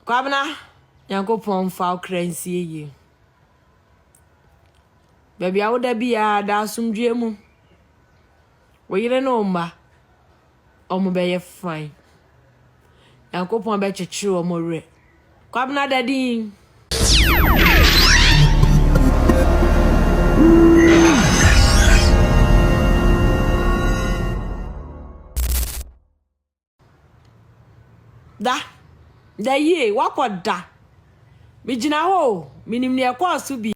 Kwabena, Nyankopɔn mfa wo kra nsie yie. Baabi a woda biara, da asomdwoeɛ mu. Wo yere ne wo mma, wɔbɛyɛ fine. Nyankopɔn bɛkyekyere wɔn werɛ. Kwabena da din. Da. Da yie. Woakɔ da. Megyina hɔ o. Menim deɛ ɛkɔɔ so bi.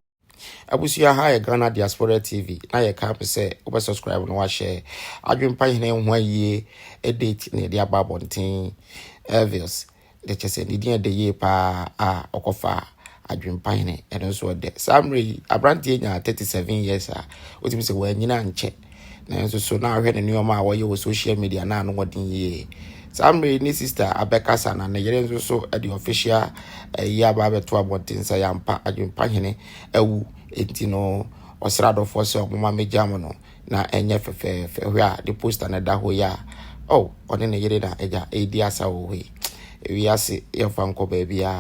Abusua ha yɛ Ghana Diaspora TV na yɛ ka sɛ wobɛ subscribe na wahyɛ adwempa hene ho ayie date na yɛde aba abɔnten Elvis Dɛ kyerɛ sɛ ne din yɛ dɛ yie paa a ɔkɔfaa adwempa hene ɛno nso ɔdɛ saa mmerɛ yi aberanteɛ nyaa 37 years a wotumi sɛ wɔanyina ankyɛ nanso so na ahwɛ ne nneɛma a wɔyɛ wɔ social media na ano wɔden yie saa mmerɛ yi ne sister abɛkasa na ne yere nso so de official ɛyi aba abɛto abɔnten sɛ yɛampa adwempa hene awu enti no ɔsra adɔfoɔ sɛ ɔmoma megya mo no na ɛnyɛ fɛfɛɛfɛ hwɛ a ne poster na ɛda hɔ yi a oh ɔne ne yere na agya ɛredi asa wɔ hɔ yi ewiase yɛmfa nkɔ baabi a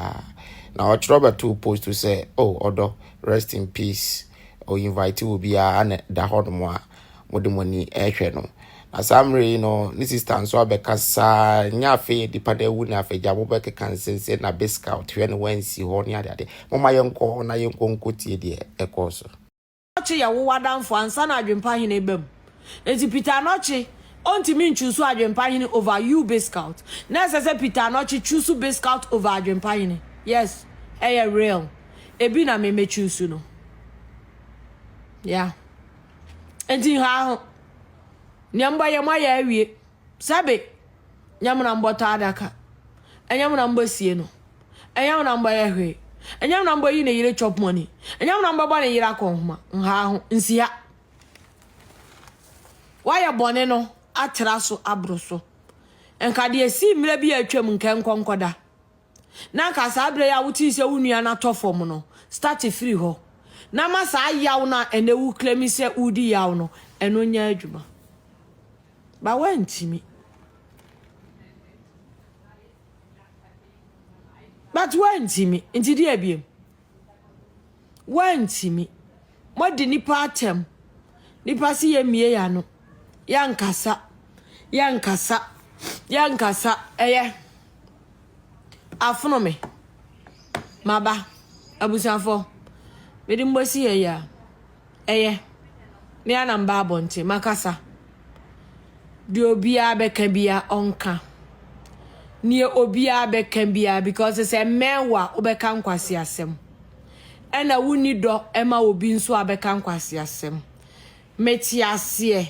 na ɔkyerɛ ɔbɛto post sɛ oh ɔdɔ rest in peace o invite wo biara na da hɔ nom a mode mo ani ɛhwɛ no na saa mmerɛ yi no ne sister nso abɛka saa nyɛ afei nipa no awu na afagya mobɛkeka nsensɛ na be scout hwɛ no wansi hɔ ne adeade moma yɛnkɔ na yɛnkɔ nkɔtie deɛ ɛkɔɔ so Anokye yɛ wo w'adamfo ansa na adwempa hene ba mu. Enti Peter Anokye ɔntumi nchuusu adwempa hene over you Biscout. Na ɛsɛ sɛ Peter Anokye chuusu Biscout over adwempa hene. Yes, ɛyɛ real. Ebi na me mɛ chuusu no. Yeah. Enti nhaa ho. Nea mbɔ yɛ moayɛ awie. Sɛbe, nyɛ me na mobɔtɔ adaka, nyɛ me na mobɛsie no, nyɛ me na mobɛyɛ hwee, nyɛ me na mobɛyi ne yere chop money, nyɛ me na mobɛbɔ ne yere akɔnhoma, nhaa ho, nsi ha. Woayɛ bɔne no atra so aboro so. Nka deɛ ɛsii mmerɛ bi a atwam, nka ɛnkɔ nkɔda. na anka saa berɛ yi a wotee sɛ wo nua no atɔ fam no, start firi hɔ na ma saa yaw no a ɛnɛ wo claim sɛ wodi yaw no, ɛno nyɛ adwuma. Ba woantumi. But woantumi, nti deɛ biem? Wɔantumi. Moadi nnipa atɛm. Nnipa se yɛmmue yɛn ano. Yɛnkasa. Yɛnkasa. Yɛnkasa. Ɛyɛ. Afono me. Maba. Abusuafoɔ. Mede mo bɛsi yɛn yea. Ɛyɛ. Me ara na meba abɔnten, makasa. Deɛ obiara bɛka biara, ɔnka. Deɛ obiara bɛka biara, because sɛ mmɛn wo a, wobɛka nkwaseasɛm. Ɛna wonni dɔ ma obi nso a bɛka nkwaseasɛm. Mete aseɛ.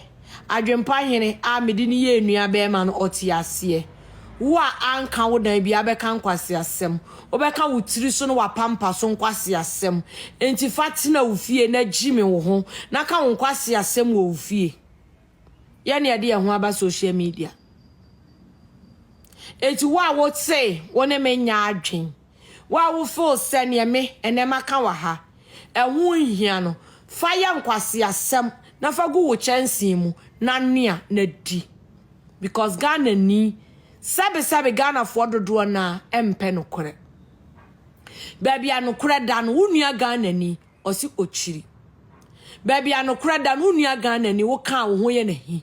Adwempa hene a mede no yɛɛ nuabarima no, ɔte aseɛ? Wo a anka wo dan biara bɛka nkwaseasɛm, wobɛka wo tiri so ne w'apampa so nkwaseasɛm. Enti fa tena wo fie na gyimi wo ho na ka wo nkwaseasɛm wɔ wo fie. Yɛn na yɛde yɛn ho aba social media. Enti wo a wosee wo ne me nyɛ adwen, W'awofoo sɛ neɛ me ɛnɛ maka wɔ ha ɛho nhia no, fa yɛ nkwaseasɛm na fa gu wo kyɛnsee mu na noa na di. Because Ghanani, sɛbe sɛbe Ghanafoɔ dodoɔ no ara ɛmpɛ nokorɛ. Baabi a nokorɛ da no, wo nua Ghanani, ɔse ɔkyiri. Baabi a nokorɛ da no, wo nua Ghanani, wo kaa wo ho yɛ n'ahi.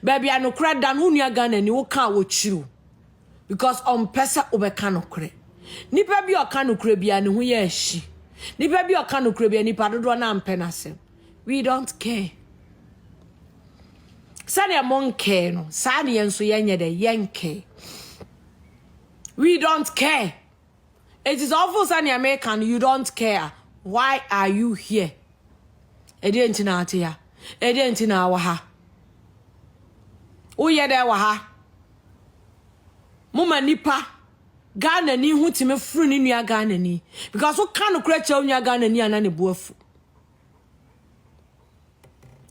Baabi a nokorɛ da no, wo nua Ghanani, wo kaa wɔkyiri wo. Because ɔmpɛ sɛ wobɛka nokorɛ. Nipa bi a ɔka nokorɛ biara ne ho yɛ ahyi. Nipa bi a ɔka nokorɛ biara nipa dodoɔ no ampɛ n'asɛm. We don't care. Sɛdeɛ mo nkɛɛ no, saa ne yɛn nso yɛnyɛ dɛ, yɛnkɛɛ. We don't care. Eti sɛ ɔfo sɛ nea meka no you don't care. Why are you here? Ɛdeɛ nti na ate ha. Ɛdeɛ nti na awɔ ha. Woyɛ dɛ wɔ ha. Moma nipa Ghanani ho tumi foro ne nua Ghanani because woka nokorɛ kyerɛ wo nua Ghanani a na ne bo afu.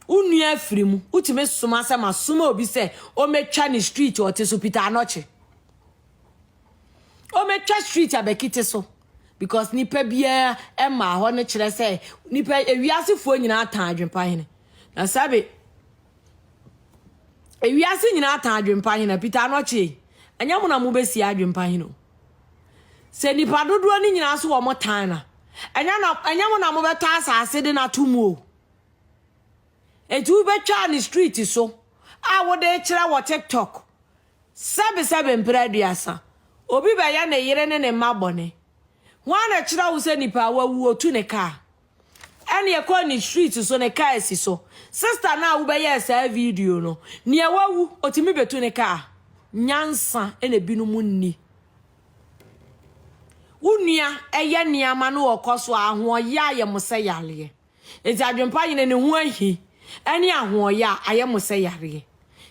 Wo nua afiri mu wotumi soma sɛ masoma obi sɛ ɔmɛtwa ne street ɔte so Peter Anɔkye. Ɔmɛtwa street abɛkite so because nipa biara ɛmaa hɔ no kyerɛ sɛ nipa ewiasefoɔ nyinaa tan adwempa hene. Na sabe Ewiase nyinaa tan adwempa hene, Peter Anokye, ɛnyɛ mo na mobɛsie adwempa hene o. Sɛ nipa dodoɔ no nyinaa so wɔn tan na, ɛnyɛ na ɛnyɛ mo na mobɛtɔ asase de no ato mu o. Eti wobɛtwa ne street so a wode kyerɛ wɔ TikTok sɛbe sɛbe mpere aduasa, obi bɛyɛ ne yere ne ne mma bɔne. Hwan na ɛkyerɛ wo sɛ nipa a wawu otu ne kaa? Ɛna yɛkɔɔ ne street so ne car si so. Sister no a wobɛyɛɛ saa video no, nea wawu otumi betu ne car? Nyansa na binom nni. Wo nua ɛyɛ nneɛma no ɔkɔ so a ahoɔyɛ ayɛ mo sɛ yareɛ. Enti Adwempa Hene ne ho ahi ɛne ahoɔyɛ a ayɛ mo sɛ yareɛ.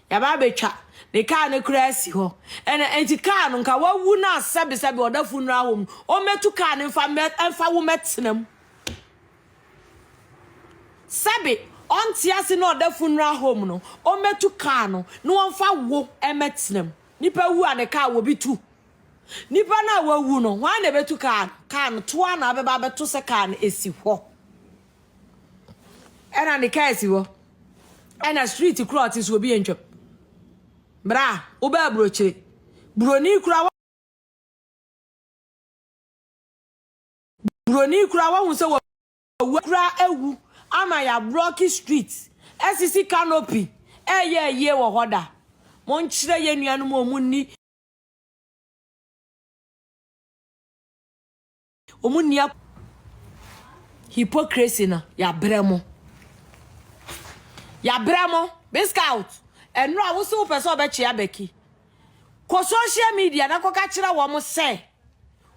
yɛaba abɛtwa ne kaa no koraa asi hɔ. Ɛna enti kaa no nka wawu no a sɛbesɛbe ɔda funeral home no, ɔmmɛtu kaa no mfa mmɛ mfa wo mmɛtena mu. Sɛbe ɔnte ase na ɔda funeral home no, ɔmmɛtu kaa no na wɔmfa wo mmɛtena mu. Nipa wu a ne kaa wɔbi tu. Nipa no a wawu no, hwan na ɛbɛtu kaa no? Kaa no toa na abɛba abɛto sɛ kaa no asi hɔ. ɛna ne kaa si hɔ ɛna street koro a ɔte so obi ntwam bra wobɛ aburokyire buroni kura buroni kura wahu sɛ wawu kura awu ama yɛ aburɔki street ɛsisi canopy ɛyɛ ayie wɔ hɔ da monkyerɛ yɛ nuanom ɔmu nni Wɔn nni a hypocrisy no yɛabrɛ mo yɛabrɛ mo biscout ɛno a wosi wopɛ sɛ ɔbɛkyea bɛki kɔ social media na kɔka kyerɛ wɔn sɛ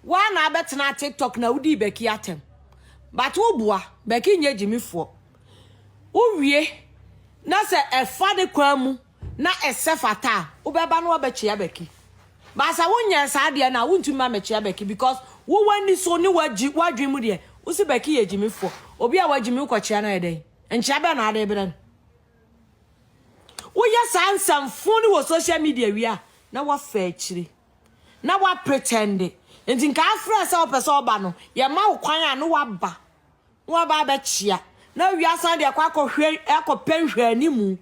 woa na abɛtena tiktok na wodii bɛki atɛm but woboa bɛki nyɛ gyimifoɔ wowie na sɛ ɛfa ne kwan mu na ɛsɛ fata a wobɛba na wabɛkyea bɛki ba sɛ wonyɛɛ saa deɛ no a wontumi ma mɛkyea bɛki because wo w'ani so ne wagyi w'adwene mu deɛ wo se bɛki yɛ gyimifoɔ obi a wagyimi wokɔkyea no ayɛ dɛn nkyea bɛn na ade berɛ no woyɛ saa nsɛmfo ne wɔ social media wie a na wafa akyiri na wapretɛnde nti nka afrɛ sɛ wopɛ sɛ ɔba no yɛma wo kwan a no waba Wɔaba abɛkyea, na wia asan de akɔ akɔhwɛ akɔpɛ nhwɛanimu.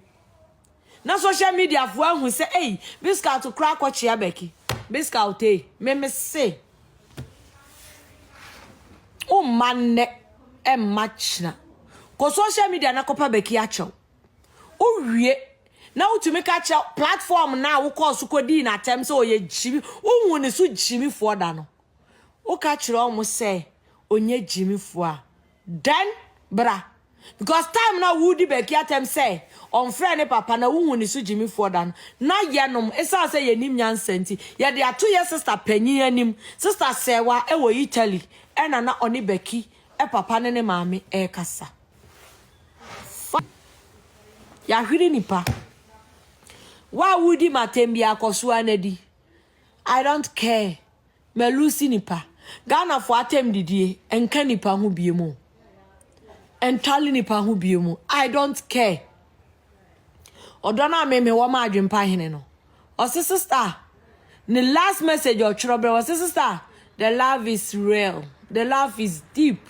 Na social media fo ahu sɛ ei me scout koraa akɔkyea bɛki. Me scout ei, me me se. Wo mma nnɛ, ɛmma kyena. Kɔ social media na kɔpa bɛki akyɛw. Wowie, na wotumi ka kyerɛ platform na a wokɔɔ so kɔdii n'atɛm sɛ ɔyɛ gyimi, wohu ne so gyimifoɔ da no. woka kyerɛ wɔn sɛ ɔnyɛ gyimfoɔ a, dɛn bra? Because time na wodi bɛki atɛm sɛ ɔmfrɛ ne papa na wohu ne so gyimfoɔ da no, na yɛnom, ɛsiane sɛ yɛnim nyansa nti, yɛde ato yɛn sista panyin anim. Sista Sɛɛwa wɔ Italy na na ɔne Bɛki papa ne ne maame rekasa. Fa yɛahwere nipa. Wo a wodi m'atɛm bi akɔsoa no adi. I don't care. Malusi nipa. Ghanafoɔ atɛm didie nka nipa ho bie mu. Ntwale nipa ho bie mu. I don't care. Ɔdɔ no a meme wɔ ma adwempa hene no. Ɔse sista. Ne last message ɔtwerɛ berɛ. Ɔse sista. The love is real. The love is deep.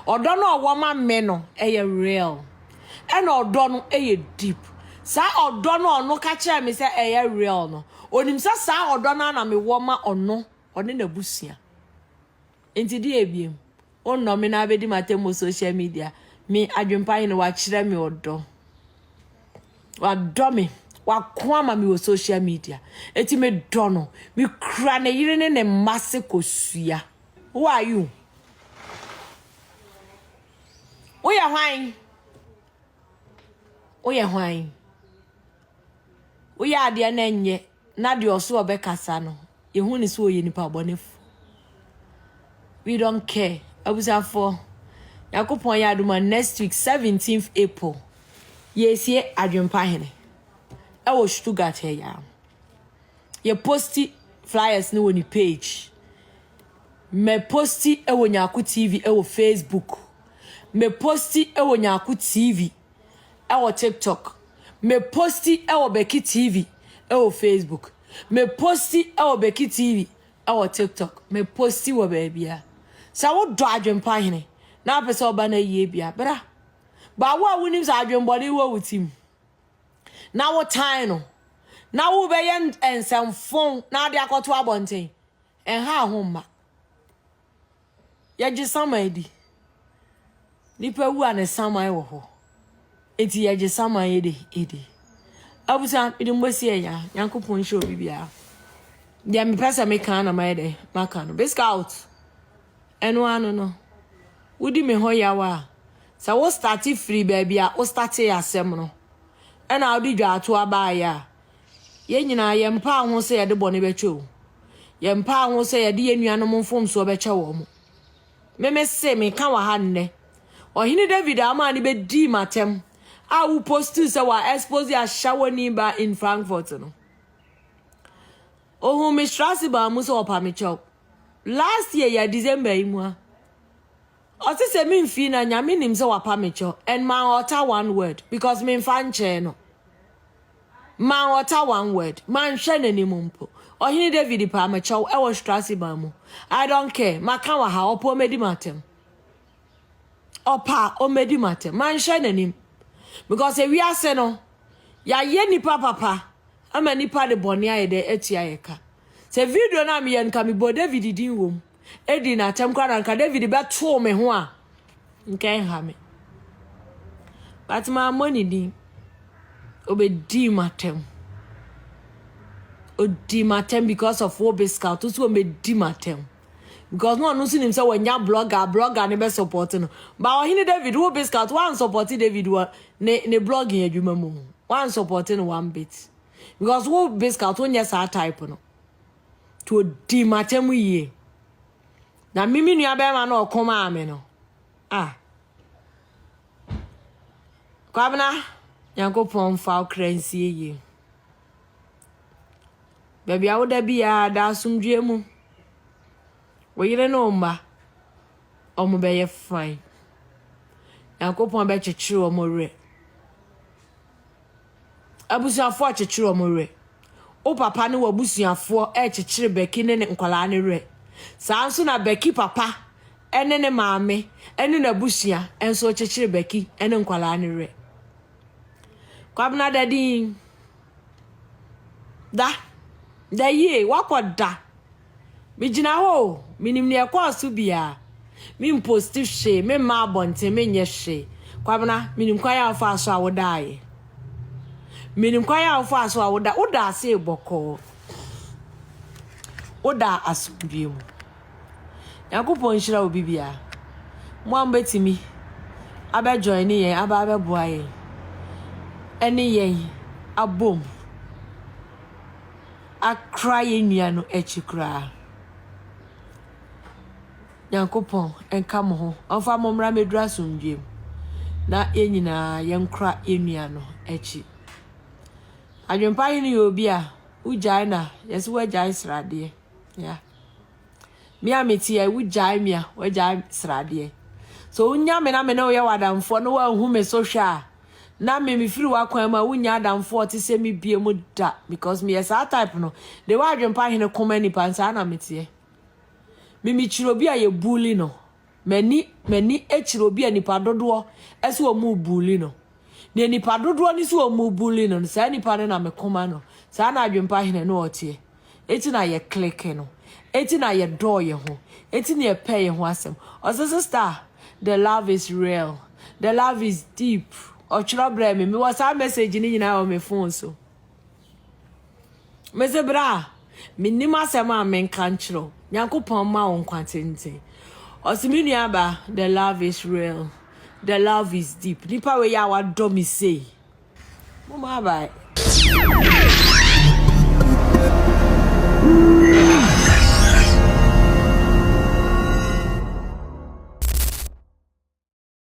Ɔdɔ no a ɔwɔ ma me no ɛyɛ real ɛna ɔdɔ no ɛyɛ deep saa ɔdɔ no a ɔno ka kyerɛ me sɛ ɛyɛ real no ɔnim sɛ saa ɔdɔ no a na me wɔ ma ɔno ɔne na busua nti deɛ ebiem ɔnnɔ me na abɛdi ma tɛmmo social media me adwempa hene wakyerɛ me ɔdɔ wadɔ me wako ama me wɔ social media eti me dɔ no me kura ne yere ne ne mma se kosua. Who are you? Woyɛ hwan? Woyɛ hwan? Woyɛ adeɛ na ɛnyɛ na deɛ ɔso ɔbɛkasa no yɛhu ne sɛ ɔyɛ nipa bɔnefo. We don't care. Abusafoɔ, Nyankopɔn yɛ adoma next week 17th April yɛsie Adwempa Hene ɛwɔ Stuttgart ɛyɛ a. yɛ posti flyers no wɔ ne page. Me posti wɔ Nyako TV wɔ Facebook. Me posti wɔ Nyako TV wɔ TikTok. Me posti wɔ Beki TV wɔ Facebook. Me posti wɔ Beki TV wɔ TikTok. Me posti wɔ baabia. Sɛ wo dɔ adwempa hene na wopɛ sɛ ɔba no ayie bia bra. Ba wo a wonim sɛ adwembɔne wɔ wo tim. na wotan no na wobɛyɛ nsɛmfon na ade akɔto abɔnten ɛnha ho mma yɛgye saman di nipa wu a ne saman wɔ hɔ enti yɛgye saman yɛ de edi abusua mede mbɔsi ɛyɛ a nyankopɔn nhyɛ obi biara deɛ mepɛ sɛ meka na mayɛ dɛ maka no biskaut Ɛno ano no, wodi me ho yaw a, sɛ wo starte firi baabi a wo startee asɛm no na wode dwaatoa baeɛ a, yɛn nyinaa yɛmpaa ho sɛ yɛde bɔne bɛkyɛ o, yɛmpaa ho sɛ yɛde yɛn nuanom mfomsoɔ bɛkyɛ wɔn. Me me se, meka wɔ ha nnɛ, Ɔhene David a womaa no bɛdii m'atɛm a wo postuu sɛ wa expose Ashawoni ba in Frankfurt no, Ohun me sra ase baa mu sɛ ɔpa me kyɛw last year yɛ December yi mu a ɔse sɛ me mfii na nyame nim sɛ wapa me kyɛw and man ɔta one word because me mfa nkyɛɛ no man ɔta one word man hwɛ n'anim mpo ɔhene David paa me kyɛw ɛwɔ sra ase baa mu I don't care maka wɔ ha ɔpɔ mɛdi m'atɛm ɔpɛ a ɔmmɛdi m'atɛm. Manhwɛ n'anim. Because ewiase no, yɛayɛ nnipa papa ama nnipa de bɔne ayɛ dɛ atua yɛ ka. Sɛ video no a meyɛ no nka mebɔɔ David din wom, dii n'atɛm koraa na nka David bɛtoo me ho a, nka ɛnha me. But mammɔ ne din. Ɔbɛdii m'atɛm. Ɔdii m'atɛm because of wo Biscout, nso ɔmmɛdi m'atɛm. because na ɔno nso nim sɛ wanya blogger a blogger no bɛ support no ba ɔhene david wo biscout wan support david wɔ ne ne blogging adwuma mu wan support no one bit because wo biscout wonyɛ saa type no to odi matam yie na mimi nua bɛrima na ɔko maa me no ah kwabena nyankopɔn fa okra nsie yie Baabi a woda biara, da asomdwoe mu. Wo yere ne wo mma, wɔbɛyɛ fine. Nyankopɔn bɛkyekyere wɔn werɛ. Abusuafoɔ rekyekyere wɔn werɛ. Wo papa ne w'abusuafoɔ rekyekyere Becky ne ne nkwadaa no werɛ. Saa nso na Becky papa ne ne maame ne n'abusua nso rekyekyere Becky ne nkwadaa no werɛ. Kwabena Dadin. Da. Da yie. Woakɔ da. Megyina hɔ o, menim deɛ ɛkɔɔ so biara. Memposti hwee, memma abɔnten, menyɛ hwee. Kwabena, menim kwan a wofaa so a wodaeɛ. Menim kwan a wofaa so a woda, wodaa ase bɔkɔɔ. Wodaa asomdwoeɛ mu. Nyankopɔn nhyira wo bibia. Mo a mobɛtumi abɛ joine yɛn aba abɛboa yɛn ɛne yɛn abom akra yɛn nua no akyi koraa. Nyankopɔn nka mo ho ɔmfa mo mmra mmɛduru asomdwie mu na yɛn nyinaa yɛnkra yɛn nua no akyi. Adwempa hene yɛ obi a wogyae na yɛse wagyae sradeɛ. Yeah. Me a me ti a wo gyae me a wo gyae sradeɛ. So wo nya me na me ne wo yɛ wadamfoɔ no wa hu me so hwɛ a na me me firi wakwan mu a wo nya adamfoɔ te sɛ me bie mu da because me yɛ saa type no de wa adwempa hene koma nipa nsaa na me teɛ. Me me kyerɛ obi a yɛ bully no. M'ani, m'ani kyerɛ obi a nnipa dodoɔ se wɔn rebuli no. Deɛ nnipa dodoɔ no se wɔn rebuli no no, saa nnipa no na me koma no, saa na Adwempa Hene no ɔteɛ. Enti na yɛ click no. Enti na yɛ dɔɔ yɛ ho. Enti na yɛ pɛɛ yɛ ho asɛm. Ɔse, Sister, the love is real. The love is deep. Ɔtwerɛ brɛɛ me. Mewɔ saa message no nyinaa wɔ me phone so. Medze bra a, minnyim asɛm a menka nkyerɛ wo, Nyankopɔn mma wo nkwa tsentsen. Ɔse me nuabaa, the love is real, the love is deep, nyimpa wei a ɔadɔ me sei, mom abae.